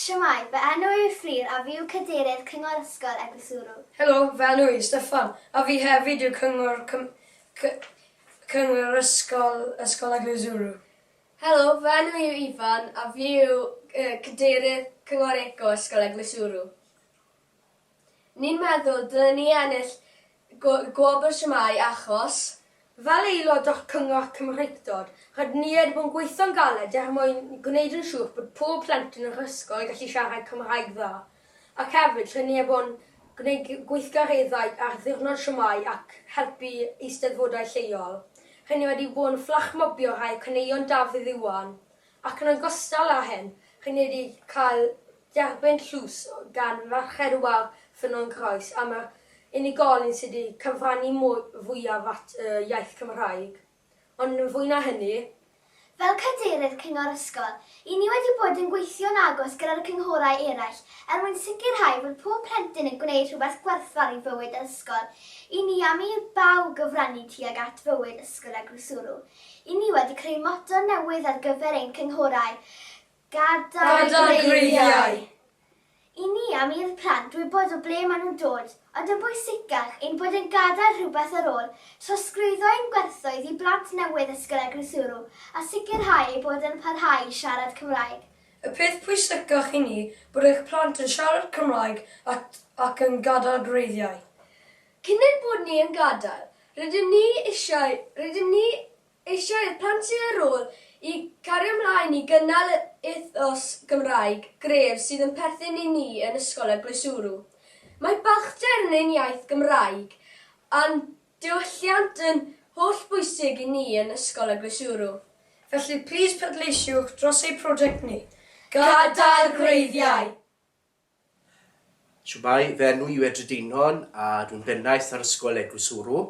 Shwmae, fy enw i yw Fflur a fi yw Cadeirydd Cyngor Ysgol Eglwyswrw. Helo, fy enw i yw Steffan a fi hefyd yw Cyngor Cym cy Cyngor Ysgol Ysgol Eglwyswrw. Helo, fy enw i yw Ifan a fi yw yy Cadeirydd Cyngor Eco Ysgol Eglwyswrw. Ni'n meddwl dylen ni ennill gwobr Shwmae achos, fel aelod o Cyngor Cymreictod, rydyn ni wedi bod yn gweithio'n galed er mwyn gwneud yn siŵr bod pob plentyn yn yr ysgol yn gallu siarad Cymraeg dda, ac hefyd rydyn ni wedi bod yn gwneud gweithgareddau ar ddiwrnod Shwmae ac helpu eisteddfodau lleol. Rydyn ni wedi bod yn fflachmobio rhai o caneuon Dafydd Iwan Ac yn ogystal â hyn, chi'n mynd i cael derbyn tlws gan Ferched Wawr Ffynnon Croes am yr unigolyn sydd wedi cyfrannu fwyaf at y iaith Cymraeg, ond yn fwy na hynny. Fel Cadeirydd Cyngor Ysgol, i ni wedi bod yn gweithio'n agos gyda'r cynghorau eraill er mwyn sicrhau bod pob plentyn yn gwneud rhywbeth gwerthfawr i fywyd yr ysgol, i ni am i bawb gyfrannu tuag at fywyd ysgol a groesurw. I ni wedi creu motto newydd ar gyfer ein cynghorau, Gadael Gweithiau! I ni am i'r plant wybod o ble maen nhw'n dod, ond yn bwysicach, ein bod yn gadael rhywbeth ar ôl, trosglwyddo ein gwerthoedd i blant newydd Ysgol Eglwyswrw a sicrhau eu bod yn parhau i siarad Cymraeg. Y peth pwysicach i ni, bod eich plant yn siarad Cymraeg ac yn gadael gwreiddiau. Cyn ein bod ni yn gadael, rydym ni eisiau, rydym ni eisiau i'r plant sydd ar ôl i gario mlaen i gynnal yr ethos Gymraeg gref sydd yn perthyn i ni yn Ysgol y Gleswrw. Mae balchder yn ein iaith Gymraeg a'n diwylliant yn holl bwysig i ni yn Ysgol y Gleswrw. Felly, plîs pleidleisiwch dros eu prosiect ni, Gadael Gwreiddiau! Shwmae, fy enw i yw Edred Einon a dwi'n bennaeth ar Ysgol Eglwys Hwrw.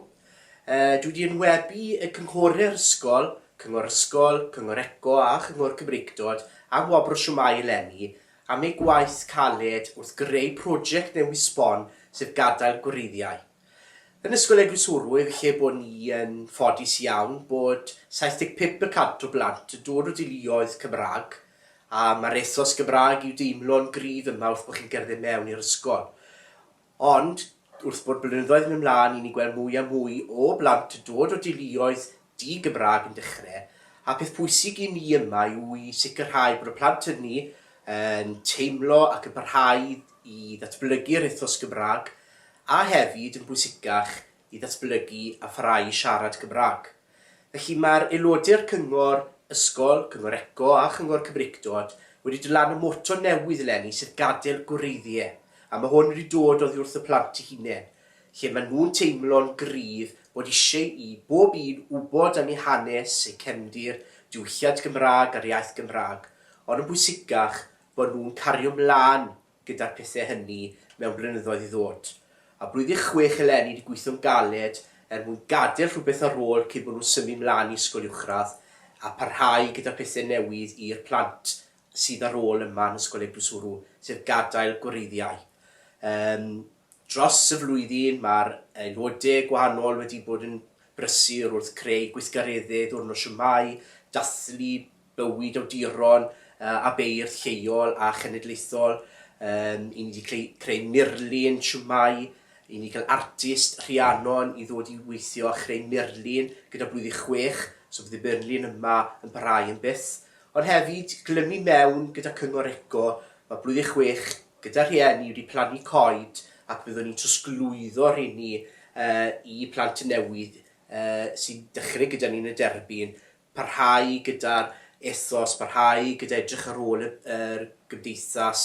Yy dwi 'di enwebu y cynghore'r ysgol, Cyngor Ysgol, Cyngor Eco a Chyngor Cymreictod am wobr o Shwmae eleni am eu gwaith caled wrth greu project newydd sbon sef gadael gwreiddiau. Yn Ysgol Eglwyswrwydd lle bo ni yn ffodus iawn bod 75 y cant o blant yn dod o deuluoedd Cymraeg a mae'r ethos Gymraeg i'w deimlo'n gryf yma wrth bo chi'n cerdded mewn i'r ysgol. Ond wrth bod blynyddoedd yn mynd mlaen i ni'n gweld mwy a mwy o blant yn dod o deuluoedd Di Gymraeg yn dechrau, a peth pwysig i ni yma yw i sicrhau bod y plant hynny yn teimlo ac yn parhau i ddatblygu'r ethos Gymraeg a hefyd, yn bwysicach, i ddatblygu a pharhau i siarad Cymraeg. Felly, mae'r aelodau'r Cyngor Ysgol, Cyngor Eco a Chyngor Cymreictod wedi dylannu moto newydd eleni sef 'Gadael Gwreiddiau' a mae hwn wedi dod oddi wrth y plant eu hunain. lle maen nhw'n teimlo'n gryf bod eisiau i bob un wybod am eu hanes, eu cefndir, diwylliant Gymraeg a'r iaith Gymraeg, ond yn bwysicach, bod nhw'n cario 'mlaen gyda'r pethau hynny mewn blynyddoedd i ddod. A blwyddyn chwech eleni 'di gweithio'n galed er mwyn gadael rhywbeth ar ôl cyn bod nhw'n symud 'mlaen i ysgol uwchradd a pharhau gyda pethau newydd i'r plant sydd ar ôl yma yn Ysgol Eglwys Wrw, sef gadael gwreiddiau. Yym. Dros y flwyddyn, mae'r aelodau gwahanol wedi bod yn brysur wrth creu gweithgareddau Ddiwrnod Shwmae, dathlu bywyd awduron a beirdd lleol a chenedlaethol, i ni 'di creu murlun shwmae, i ni cael artist Rhiannon i ddod i weithio a chreu murlun gyda Blwyddyn Chwech, so bydd y murlun yma yn parhau am byth. Ond hefyd, glymu mewn gyda Cyngor Eco, mae Blwyddyn Chwech Gyda rhieni wedi plannu coed ac byddwn ni'n trosglwyddo rheini i plant newydd sy'n dechrau gyda ni yn y derbyn, parhau gyda'r ethos, parhau gyda edrych ar ôl yr gymdeithas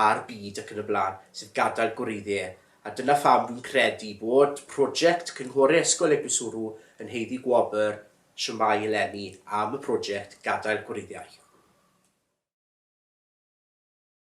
a'r byd ac yn y blaen, sef gadael gwreiddie. A dyna pham dwi'n credu bod project Cynghore Ysgol Eglwyswrw yn haeddu gwobr Shwmae eleni am y project gadael gwreiddiau.